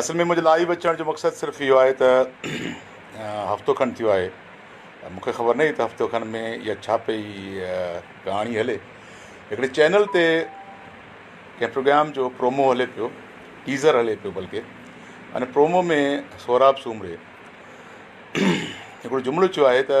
اصل ۾ منهنجي لائيو اچڻ جو مقصد صرف اهو آهي ته هفتو کن ٿيو آهي مون کي خبر ناهي ته هفتو کن ۾ اها ڇا پئي ڪهاڻي هلي هڪڙي چينل تي ڪنهن پروگرام جو پرومو هلي پيو ٽيزر هلي پيو بلڪه ان پرومو ۾ سهراب سومري هڪڙو جملو چيو آهي ته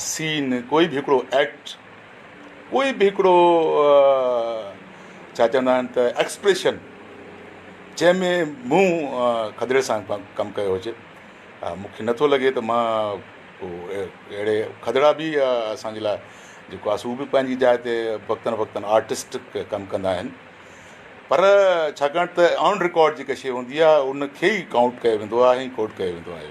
سين، ڪوئي به هڪڙو ايڪٽ، ڪوئي به هڪڙو ڇا چوندا آهن ته ايڪسپريشن جنهن ۾ مون کدڙي سان ڪم ڪيو هجي مون کي نٿو لڳي ته مان ڪو اهڙي کدڙا بي اسانجي لاء جيڪو آسو به پنهنجي جاء تي وقتن وقتن آرٽسٽ ڪم ڪندا آهن پر ڇاڪاڻ ته آن رڪارڊ جيڪا شي هوندي آهي ان کي ئي ڪائونٽ ڪيو ويندو آهي ڪوٽ ڪيو ويندو آهي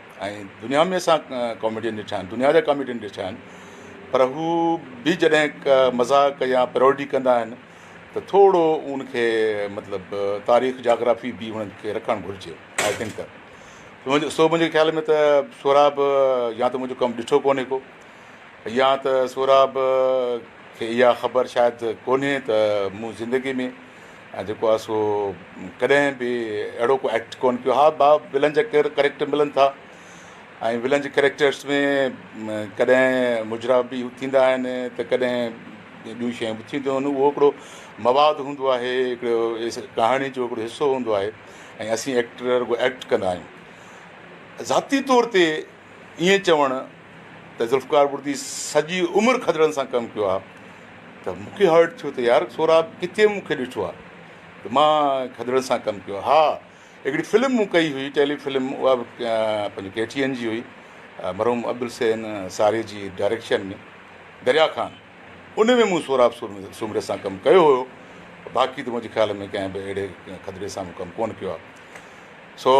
۽ دنيا ۾ اسان ڪاميڊين ڏٺا آهن دنيا جا ڪاميڊين ڏٺا آهن پر هو به جڏهن مذاق يا پيروڊي ڪندا آهن ته ٿورو ان کي مطلب تاريخ جاگرافي به انهن کي رکڻ گهرجي آئي ٿنڪ ته منهنجو سو منهنجي خيال ۾ ته سهراب يا ته منهنجو ڪم ڏٺو ڪونهي ڪو يا ته سهراب کي اها خبر شايد ڪونهي ته مون زندگي ۾ ۽ جيڪو آهي سو ڪڏهن به اهڙو ڪو ايڪٽ ڪونه ڪيو ها ڀا ولن جا ڪير ڪريڪٽر ملن ٿا ۽ ولن جي ڪريڪٽرس ۾ ڪڏهن مجرا به ٿيندا آهن ته ڪڏهن ٻيون شيون به ٿينديون آهن اهو هڪڙو مواد هوندو آهي هڪڙو ڪهاڻي جو هڪڙو حصو هوندو آهي ۽ اسين ايڪٽر رڳو ايڪٽ ڪندا آهيون ذاتي طور تي ائين چوڻ ته ذوالفقار بڙدي سڄي عمر کدڙن سان ڪم ڪيو آهي ته مون کي هرٽ ٿيو ته يار سهراب ڪٿي مون کي ڏٺو آهي ته مان کدڙن سان ڪم ڪيو ها هڪڙي فلم مون ڪئي هئي ٽيلي فلم اها به پنهنجي ڪي ٽي اين جي هئي مرحوم عبدالسين ساري جي ڊائريڪشن ۾ دريا خان ان ۾ مون سهراب سومري سان ڪم ڪيو هيو باقي ته منهنجي خيال ۾ ڪنهن به اهڙي کدڙي سان مون ڪم ڪونه ڪيو آهي سو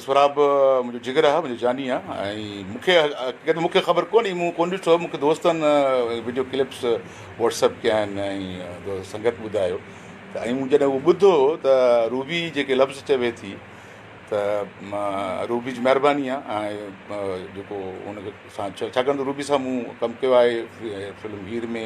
سھراب منھنجو جگر آ منھنجو جاني آ ۽ مون کي حقيقت ۾ مون کي خبر ڪونھي مون ڪونھ ڏٺو مون کي دوستن وڊيو ڪلپس واٽسپ ڪيا آھن ۽ سنگت ٻڌايو ته ۽ مون جڏھن اھو ٻڌو ته روبي جيڪي لفظ چوي ٿي ته روبي جي مھرباني آ ۽ جيڪو ان کي سان ڇا ڇاڪاڻ ته روبي سان مون ڪم ڪيو آھي فلم ھير ۾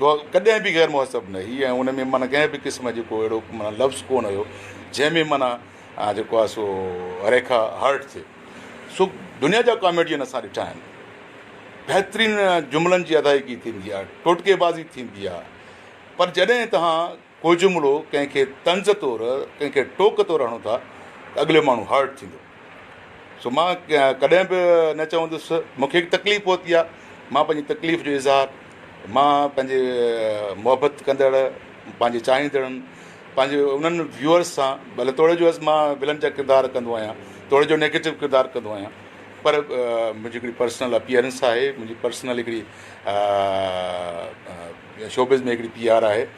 هوء ڪڏهن به غير مهذب نه هئي ۽ ان ۾ معنيٰ ڪنهن به قسم جي ڪو اهڙو معنيٰ لفظ ڪونه هيو جنهن ۾ معنيٰ جيڪو آهي سو ريکا هرٽ ٿئي سو دنيا جا ڪاميڊين اسان ڏٺا آهن بهترين جملن جي ادائيگي ٿيندي آهي ٽوٽڪي بازي ٿيندي آهي پر جڏهن توهان ڪو جملو ڪنهن کي طنز طور، ڪنهن کي ٽوڪ طور هڻو ٿا ته اڳلي ماڻهو هرٽ ٿيندو. سو مان ڪڏهن به نه چوندس مون کي هڪ تڪليف پهتي آهي مان پنهنجي تڪليف جو اظهار مان پنهنجي محبت ڪندڙ پنهنجي چاهيندڙن پنهنجي انهن ويوئرس سان ڀلي توڙي جو از مان ولن جا ڪردار ڪندو آهيان توڙي جو نيگيٽو ڪردار ڪندو آهيان پر منهنجي هڪڙي پرسنل اپيئرنس آهي منهنجي پرسنل هڪڙي شوبز ۾ هڪڙي پي آر آهي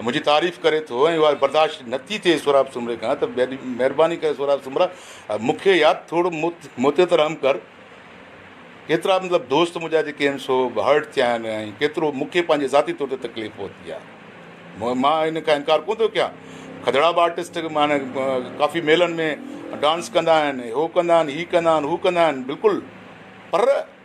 منهنجي تعريف ڪري ٿو ۽ اها برداشت نه ٿي ٿئي سهراب سومري کان ته مهرباني ڪري سهراب سومرا مون کي يا ٿورو موتي ته رحم ڪر. ڪيترا مطلب دوست منهنجا جيڪي آهن سو هرٽ ٿيا آهن ۽ ڪيترو مون کي پنهنجي ذاتي طور تي تڪليف پهتي آهي. مان ان کان انڪار ڪونه ٿو ڪيان. کدڙا به آرٽسٽ معنی ڪافي ميلن ۾ ڊانس ڪندا آهن هو ڪندا آهن هي ڪندا آهن هو ڪندا آهن بلڪل پر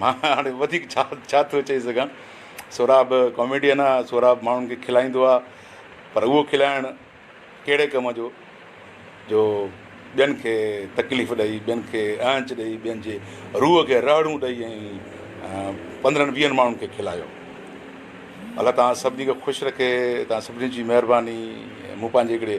مان هاڻي وڌيڪ ڇا ڇا ٿو چئي سگهان سهراب ڪاميڊين آ سهراب ماڻهن کي کلائيندو آ پر اهو کلائڻ ڪهڙي ڪم جو جو ٻين کي تڪليف ڏئي ٻين کي اهنچ ڏئي ٻين جي روح کي رهڙون ڏئي ۽ پندرهن ويهن ماڻهن کي کلايو الله تان سڀني کي خوش رکي تان سڀني جي مهرباني مون پنهنجي هڪڙي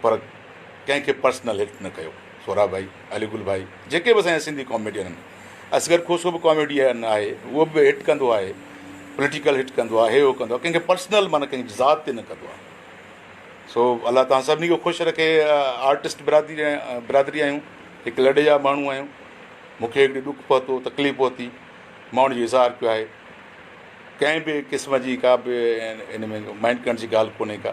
پر ڪنهن کي پرسنل هٽ نه ڪيو. سهراب ڀائي، علي گل ڀائي جيڪي به اسان جا سنڌي ڪاميڊين آهن، اصغر کوسو به ڪاميڊين آهي اهو به هٽ ڪندو آهي، پوليٽيڪل هٽ ڪندو آهي، هي هو ڪندو آهي، ڪنهن کي پرسنل معنيٰ ڪنهن جي ذات تي نه ڪندو آهي. سو الله توهان سڀني کي خوش رکي آرٽسٽ برادري برادري آهيون هڪ لڏي جا ماڻهو آهيون مون کي هڪڙي ڏک پهتو تڪليف پهتي ماڻهو جو اظهار ڪيو آهي ڪنهن به قسم جي ڪا به ان ۾ مائنڊ ڪرڻ جي ڳالهه ڪونهي ڪا